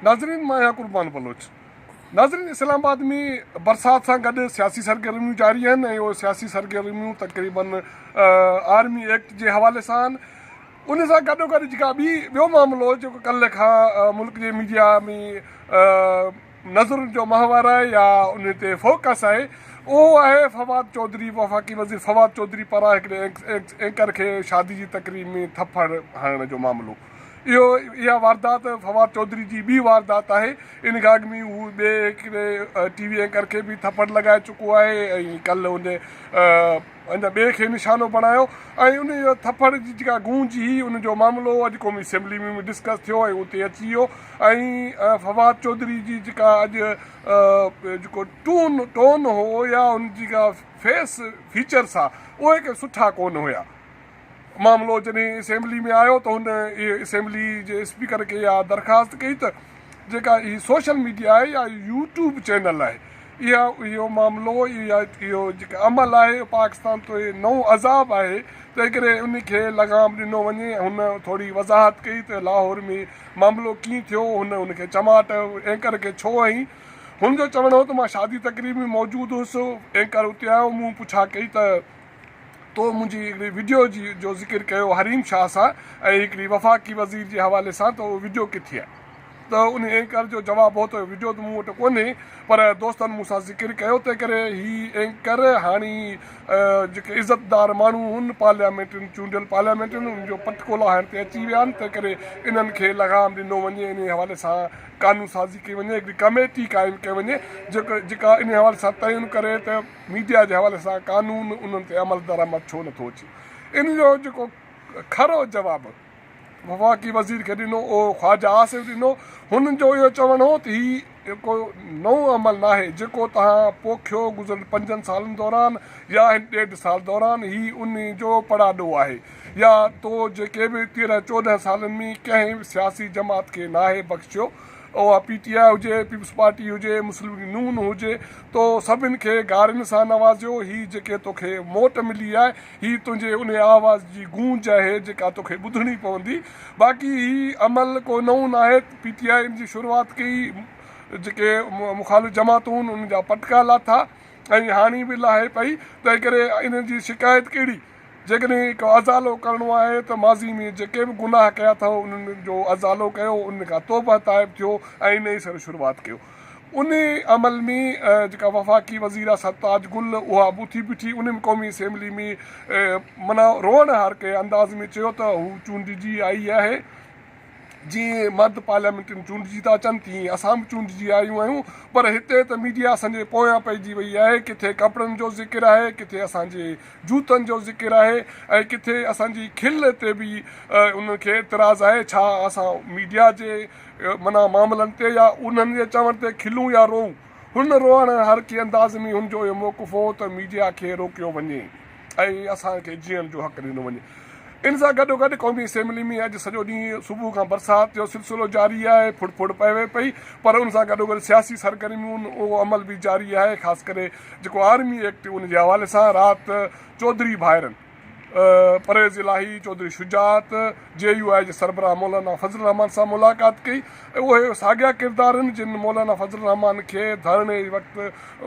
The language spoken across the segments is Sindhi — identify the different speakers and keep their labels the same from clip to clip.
Speaker 1: ناظرين مان آهيان قربان بلوچ. ناظرين اسلام آباد ۾ برسات سان گڏ سياسي سرگرميون جاري آهن ۽ اهي سياسي سرگرميون تقريبن آرمي ايڪٽ جي حوالي سان آهن ان سان گڏو گڏ جيڪا ٻي ٻيو معاملو جيڪو ڪلهه کان ملڪ جي ميڊيا ۾ نظرن جو محور آهي يا ان تي فوڪس آهي اهو آهي فواد چوڌري وفاقي وزير فواد چوڌري پاران هڪڙي اينڪر کي شادي جي تقريب ۾ ٿڦڙ هڻڻ جو معاملو اهو اها واردات فواد چوڌري جي ٻي واردات آهي، ان کان اڳ ۾ هو ٻئي هڪڙي ٽي وي اينڪر کي به ٿڦڙ لڳائي چڪو آهي ۽ ڪلهه ان ان ٻئي کي نشانو بڻايو ۽ ان ٿڦڙ جي جيڪا گونج هئي ان جو معاملو اڄ قومي اسيمبلي ۾ به ڊسڪس ٿيو ۽ اتي اچي ويو ۽ فواد چوڌري جي جيڪا اڄ جيڪو ٽون ٽون هو يا ان جيڪا فيس فيچرس هئا اهي ڪي سٺا ڪونه هيا. معاملو جڏهن اسيمبلي ۾ آيو ته هن اسيمبلي جي اسپيڪر کي اها درخواست ڪئي ته جيڪا هي سوشل ميڊيا آهي يا يو ٽيوب چينل آهي اها اهو معاملو يا اهو جيڪا عمل آهي پاڪستان تي نئون عذاب آهي تنهنڪري ان کي لغام ڏنو وڃي هن ٿوري وضاحت ڪئي ته لاهور ۾ معاملو ڪيئن ٿيو هن ان کي چماٽ اينڪر کي ڇو هنئي هن جو چوڻ هو ته مان شادي تقريب ۾ موجود هوس اينڪر اتي آيو مون پڇا ڪئي ته تو منهنجي هڪڙي وڊيو جي جو ذڪر ڪيو حريم شاهه سان ۽ هڪڙي وفاقي وزير جي حوالي سان ته اهو وڊيو ڪٿي آهي؟ ته ان اينڪر جو جواب هو ته وڊيو ته مون وٽ ڪونهي پر دوستن مون سان ذڪر ڪيو تنهن ڪري هي اينڪر هاڻي جيڪي عزت دار ماڻهو هن پارليامينٽرين چونڊيل پارليامينٽرين ان جو پٽ ڪولاهڻ تي اچي ويا آهن تنهن ڪري انهن کي لغام ڏنو وڃي انهي حوالي سان قانون سازي ڪئي وڃي هڪڙي ڪميٽي قائم ڪئي وڃي جيڪا انهي حوالي سان تعين ڪري ته ميڊيا جي حوالي سان قانون انهن تي عمل درآمد ڇو نه ٿو اچي؟ ان جو جيڪو کرو جواب وفاقي وزير کي ڏنو اهو خواجه آصف ڏنو، هن جو اهو چوڻ هو ته هي ڪو نئون عمل ناهي جيڪو توهان پوکيو گذريل پنجن سالن دوران يا هن ڏيڍ سال دوران، هي ان جو پڙاڏو آهي يا تو جيڪي به تيرهن چوڏهن سالن ۾ ڪنهن سياسي جماعت کي ناهي بخشيو اها پي ٽي آء هجي، پيپلز پارٽي هجي، مسلم ليگ نون هجي، تو سڀن کي گارين سان نوازيو، هي جيڪي توکي موٽ ملي آهي، هي تنهنجي انهي آواز جي گونج آهي، جيڪا توکي ٻڌڻي پوندي، باقي هي عمل ڪو نئون ناهي، پي ٽي آء ان جي شروعات ڪئي، جيڪي مخالف جماعتون ان جا پٽڪا لاٿا ۽ هاڻي به لاهي پئي، تنهنڪري ان جي شڪايت ڪهڙي؟ جيڪڏهن هي ڪو ازالو ڪرڻو آهي ته ماضي ۾ جيڪي به گناهه ڪيا اٿئو انهن جو ازالو ڪيو انهن کان توبه تائب ٿيو ۽ نئين سر شروعات ڪيو انهي عمل ۾ جيڪا وفاقي وزير آ سرتاج گل اها به اٿي بيٺي انهن قومي اسيمبلي ۾ معنيٰ روئڻ هارڪي انداز ۾ چيو ته هو چونڊجي آئي آهي جيئن مرد پارليامينٽ ۾ چونڊجي ٿا اچن تيئن اسان به چونڊجي آيون آهيون پر هتي ته ميڊيا اسان جي پويان پئجي وئي آهي ڪٿي ڪپڙن جو ذڪر آهي ڪٿي اسان جي جوتن جو ذڪر آهي ۽ ڪٿي اسان جي کل تي به انهن کي اعتراض آهي ڇا اسان ميڊيا جي معنيٰ معاملن تي يا انهن جي چوڻ تي کلون يا روئون هن روئڻ هر ڪي انداز ۾ هن جو اهو موقف هو ته ميڊيا کي روڪيو وڃي. ۽ اسان کي جيئڻ جو حق ڏنو وڃي. ان سان گڏوگڏ قومي اسيمبلي ۾ اڄ سڄو ڏينهن صبح کان برسات جو سلسلو جاري آهي، ڦڙ ڦڙ پوي پئي پر ان سان گڏوگڏ سياسي سرگرميون اهو عمل به جاري آهي خاص ڪري جيڪو آرمي ايڪٽ ان جي حوالي سان رات چوڌري ڀائرن پرويز الاهي، چوڌري شجاعت، جي يو آء جي سربراهه مولانا فضل الرحمان سان ملاقات ڪئي. اهي ساڳيا ڪردار آهن جن مولانا فضل الرحمان کي ڌرڻي جي وقت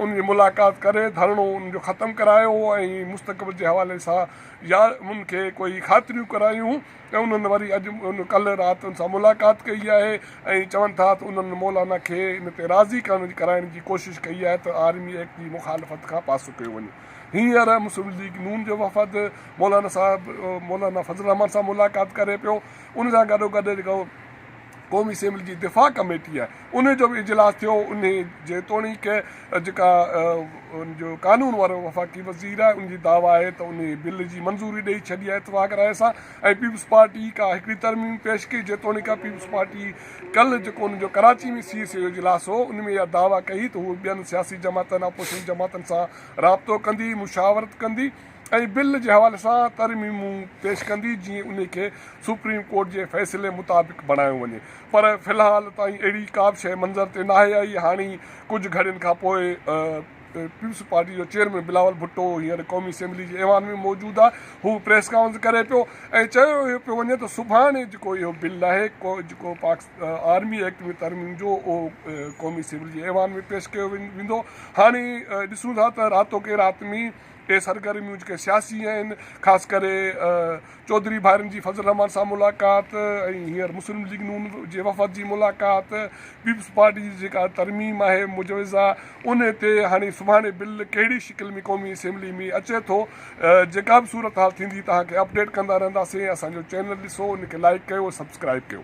Speaker 1: ان جي ملاقات ڪري ڌرڻو ان جو ختم ڪرايو هو ۽ مستقبل جي حوالي سان يا ان کي ڪوئي خاطريون ڪرايون ته انهن وري اڄ ڪلهه رات ان سان ملاقات ڪئي آهي ۽ چون ٿا ته انهن مولانا کي ان تي راضي ڪرائڻ جي ڪوشش ڪئي آهي ته آرمي ايڪٽ جي مخالفت کان پاسو ڪيو وڃي هينئر مسلم ليگ نون جو وفد مولانا صاحب مولانا فضل الرحمان سان ملاقات ڪري پيو ان سان گڏوگڏ جيڪو قومي اسيمبلي جي دفاع ڪميٽيء ان جو به اجلاس ٿيو، انهي جيتوڻيڪ جيڪا ان جو قانون وارو وفاقي وزير آهي ان جي دعويٰ آهي ته انهي بل جي منظوري ڏئي ڇڏي آهي اتفاق راء سان ۽ پيپلز پارٽي ڪا هڪڙي ترميم پيش ڪئي جيتوڻيڪ پيپلز پارٽي ڪلهه جيڪو ان جو ڪراچي ۾ سي ايس اي جو اجلاس هو ان ۾ اها دعويٰ ڪئي ته هوء ٻين سياسي جماعتن اپوزيشن جماعتن سان رابطو ڪندي مشاورت ڪندي ۽ بل جي حوالي سان ترميمون پيش ڪندي جيئن انهي کي سپريم ڪورٽ جي فيصلي مطابق بڻايو وڃي پر في الحال تائين اهڙي ڪابه شيء منظر تي ناهي آئي هاڻي ڪجهه گهڙين کانپوء پيپلز پارٽي جو چيئرمين بلاول ڀٽو هينئر قومي اسيمبلي جي ايوان ۾ موجود آهي هو پريس ڪانفرنس ڪري پيو ۽ چيو اهو پيو وڃي ته سڀاڻي جيڪو اهو بل آهي جيڪو آرمي ايڪٽ ۾ ترميم جو اهو قومي اسيمبلي جي ايوان ۾ پيش ڪيو ويندو هاڻي ڏسون ٿا ته راتو ڪي رات ۾ اهي سرگرميون جيڪي سياسي آهن، خاص ڪري چوڌري ڀائرن جي فضل الرحمان سان ملاقات ۽ هينئر مسلم ليگ نون جي وفد جي ملاقات، پيپلز پارٽي جي جيڪا ترميم آهي مجوزه ان تي هاڻي سڀاڻي بل ڪهڙي شڪل ۾ قومي اسيمبلي ۾ اچي ٿو، جيڪا به صورتحال ٿيندي توهان کي اپڊيٽ ڪندا رهنداسين، اسان جو چينل ڏسو، ان کي لائيڪ ڪيو، سبسڪرائيب ڪيو.